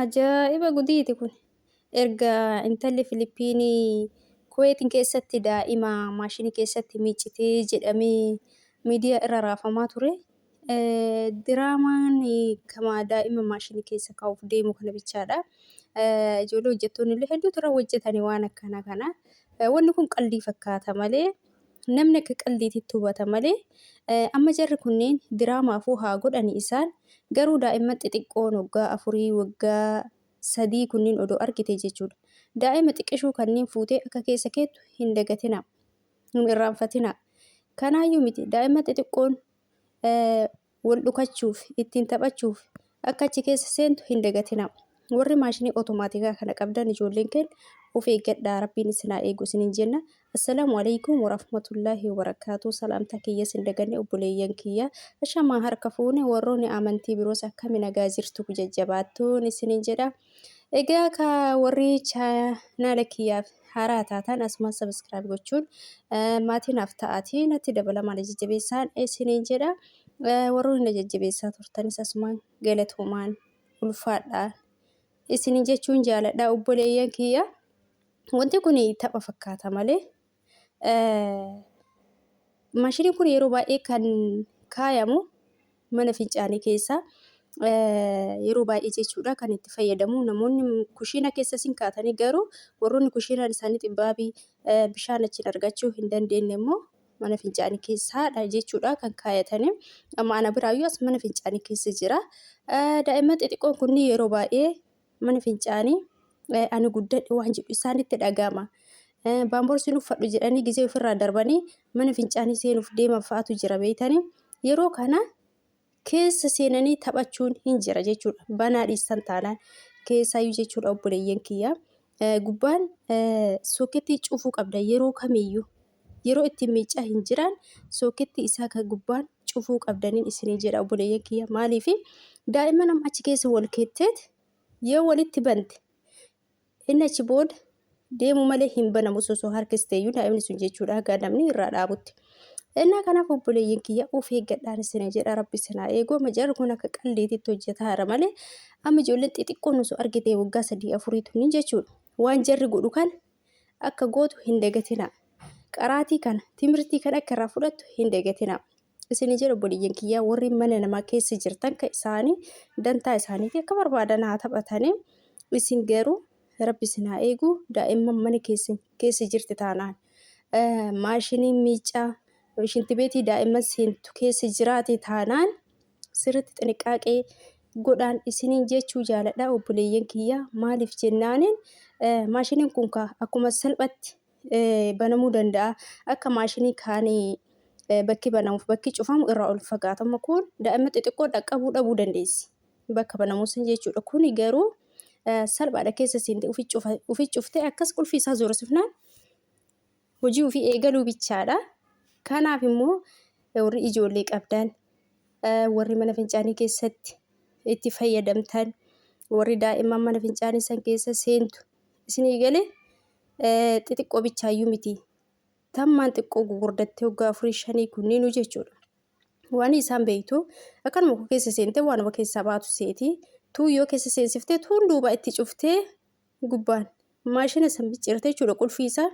Ajaa'iba gudiiti kun. Erga intalli Filippiinii Kuweetiin keessatti daa'ima maashinii keessatti miicitee jedhamee miidiyaa irra raafamaa ture. Diraamaan kama daa'ima maashinii keessa kaa'uuf deemu kana bichaadha. Ijoollee hojjettoonni illee hedduutu irra hojjetani waan akkanaa kana. Wanni kun qaldii fakkaata malee Namni akka qaldiititti hubata malee amma jarri kunneen diraamaafuu haa godhani isaan garuu daa'imman xixiqqoon waggaa afurii waggaa sadii kunniin odoo argite jechuudha. Daa'ima xiqqishuu kanniin fuutee akka keessa keettu hin dagatinaa. Hin irraanfatinaa. Kanaayyuu miti daa'imman xixiqqoon wal dhukachuuf, ittiin taphachuuf akka achi keessa seentu hin dagatinaa. Warri maashinii otomaatikaa kana qabdan ijoolleen keen of eeggadhaa rabbiin isin haa eegu isiniin jenna. Assalaamu alaikum warahmatullaahi wabarakaatuu salaamtaa kiyya isin daganne obboleeyyan kiyya ashamaa harka fuune warroonni amantii biroos akkami nagaa jirtu jajjabaattuun isiniin jedha. Egaa ka warri chaanaala kiyyaaf haaraa taataan asumaan sabiskiraayib gochuun eh, maatii naaf ta'aatii natti dabalamaa na jajjabeessaan isiniin jedha. Eh, Warroonni na jajjabeessaa turtanis asumaan galatoomaan ulfaadhaa isiniin jechuun jaaladha obboleeyyan kiyya. Wanti kun tapha fakkaata malee Maashiniin kun yeroo baay'ee kan kaayamu mana fincaanii keessa yeroo baay'ee jechuudha kan itti fayyadamu namoonni kushiina keessa sin kaatanii garuu warroonni kushiinaan isaanii xibbaabii bishaan achiin argachuu hin dandeenye immoo mana fincaanii keessaadha jechuudha kan kaayatanii amma ana biraayyuu as mana fincaanii keessa jira daa'imman xixiqqoon kunni yeroo baay'ee mana fincaanii ani guddadhe waan jedhu isaanitti dhaga'ama. Baamborsiin uffadhu jedhanii gizee ofirraa darbanii mana fincaanii seenuuf deeman fa'aatu jira beeytanii yeroo kana keessa seenanii taphachuun hin jira jechuudha. Banaa dhiistan taanaan keessaayyuu jechuudha obboleeyyan kiyya. Gubbaan soketii cufuu qabda yeroo kamiyyuu. yeroo ittiin miiccaa hin jiraan sookettii isaa kan gubbaan cufuu qabdaniin isinii jedha obboleeyyan kiyya maaliif daa'imman amma achi keessa wal keetteet yoo walitti bante inni achi booda deemu malee hin banamu osoo harkisteeyyuu daa'imni sun jechuudha haga namni irraa dhaabutti. Innaa kanaaf obboleeyyan kiyya of eeggadhaan isinii jedha rabbi isinaa eeguu amma jarri kun akka qalleetitti hojjetaara malee amma ijoolleen xixiqqoon osoo argitee waggaa sadii afurii tuni jechuudha waan jarri godhu kana akka gootu hin dagatina. Qaraatii kana, timirtii kana akka irraa fudhattu hin dagatina. Isin jedhu obboleeyyan kiyyaa warri mana namaa keessa jirtan kan isaanii dantaa isaaniitii akka barbaadan haa taphatanii isin garuu rabbi isin haa eegu daa'imman mana keessa keessa jirti taanaan maashinii miicaa shintibeetii daa'imman seentu keessa jiraate taanaan sirritti xiniqqaaqee godhaan isiniin jechuu jaaladha obboleeyyan kiyya maaliif jennaaniin maashiniin kun kaa akkuma salphatti banamuu danda'a akka maashinii kaanii bakki banamuuf bakki cufamu irraa ol fagaatama kun daa'ima xixiqqoo dhaqqabuu dhabuu dandeessi bakka banamuu san jechuudha kuni garuu salphaadha keessa seente ufi cuftee akkas qulfii isaa zoorosifnaan hojii ofii eegaluu bichaadha. Kanaaf immoo warri ijoollee qabdan, warri mana fincaanii keessatti itti fayyadamtan, warri daa'imman mana fincaanii san keessa seentu isinii gale xixiqqoo bichaayyuu miti. Tammaan xiqqoo gugurdattee waggaa afurii shanii kunniinuu jechuudha. Waan isaan beektu akkanuma koo keessa seentee waanuma keessaa baatu seeti. Tuu yoo keessa seensiftee tuun duuba itti cuftee gubbaan maashina san biccirte jechuudha qulfii isaa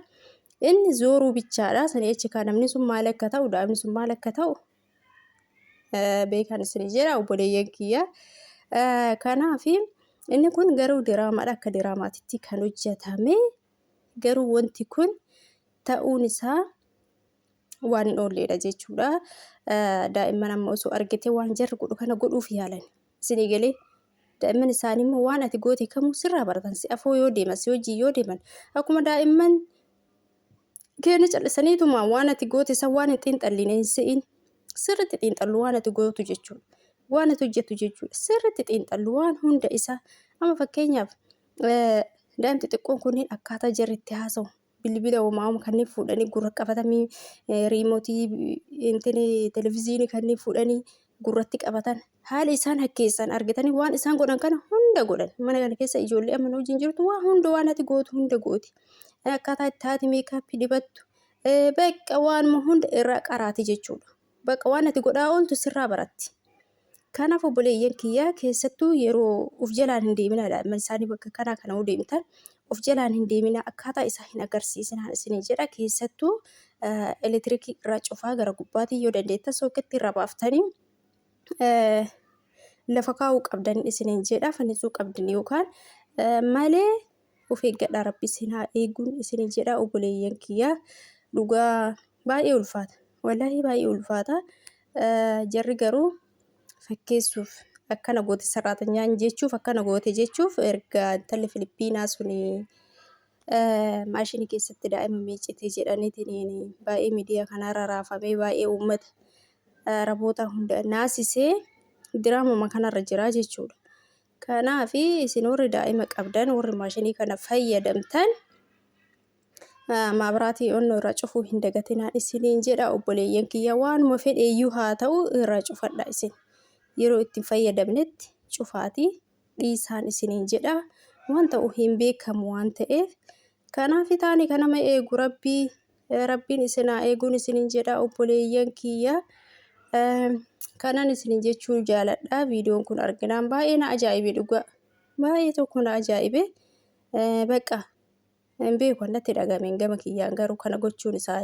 inni zooruu bichaadha sani achi kaa namni sun maal akka ta'u daa'imni sun maal akka ta'u beekan isin jedha obboleeyyan kiyya kanaaf inni kun garuu diraamaadha akka diraamaatitti kan hojjetame garuu wanti kun ta'uun isaa waan hin oolleedha jechuudha daa'imman amma osoo argite waan jarri godhu kana godhuuf yaalan. isinii galee daa'imman isaanii immoo waan ati goote kamuu sirraa baratan si afoo yoo deeman si wajjin yoo deeman akkuma daa'imman keenya callisaniituma waan ati goote san waan hin xiinxalline hin se'in sirritti xiinxallu waan ati gootu jechuudha waan ati hojjettu jechuudha sirritti xiinxallu waan hunda isaa amma fakkeenyaaf daa'imti xiqqoon kunniin akkaataa jarri itti haasawu bilbila homaa homa kanneen fuudhanii gurra qabatamii riimotii intini televiziinii kanneen fuudhanii gurratti qabatan haala isaan hakkeessan argitanii waan isaan godhan kana hunda godhan mana kana keessa ijoollee amma wajjin jirtu waa hunda waan ati gootu hunda gooti akkaataa itti haati meekaappii dibattu bakka waanuma hunda irraa qaraati jechuudha. Baqa waan ati godhaa ooltu sirraa baratti. Kanaaf obboleeyyan kiyyaa keessattuu yeroo of jalaan hin deeminaa daa'imman isaanii bakka kanaa kana yoo deemtan of jalaan hin deeminaa akkaataa isaa hin agarsiisinaan isinii jedha keessattuu elektiriikii irraa cufaa gara gubbaatiin yoo dandeettan sooketti irra baaftanii lafa kaa'uu qabdan isiniin jedha fannisuu qabdan yookaan malee of eeggadhaa rabbi isin haa eeguun isin jedha oboleeyyan kiyya dhugaa baay'ee ulfaata wallahi baay'ee ulfaata jarri garuu fakkeessuuf akkana goote sarraatanyaan jechuuf akkana goote jechuuf erga intalli Filippiinaa suni maashinii keessatti daa'ima miicite jedhaniitiin baay'ee miidiyaa kanarra raafamee baay'ee uummata raboota hunda naasisee diraamuma kanarra jira jechuudha. Kanaaf isin warri daa'ima qabdan warri maashinii kana fayyadamtan maabraatii onnoo irraa cufuu hin dagatinaa isiniin jedha obboleeyyan kiyya waanuma fedheeyyuu haa ta'u irraa cufadha isin yeroo ittiin fayyadamnetti cufaatii dhiisaan isiniin jedha waan ta'u hin beekamu waan ta'eef kanaaf taani kanama eegu rabbii Rabbiin isin haa eeguun isinin jedha obboleeyyan kiyya. Kanan isinin jechuu jaaladha. Viidiyoon kun arginaan baay'ee na ajaa'ibe dhugaa. Baay'ee tokko na ajaa'ibe. Bakka hin beeku natti dhagame gama kiyyaan garuu kana gochuun isaa.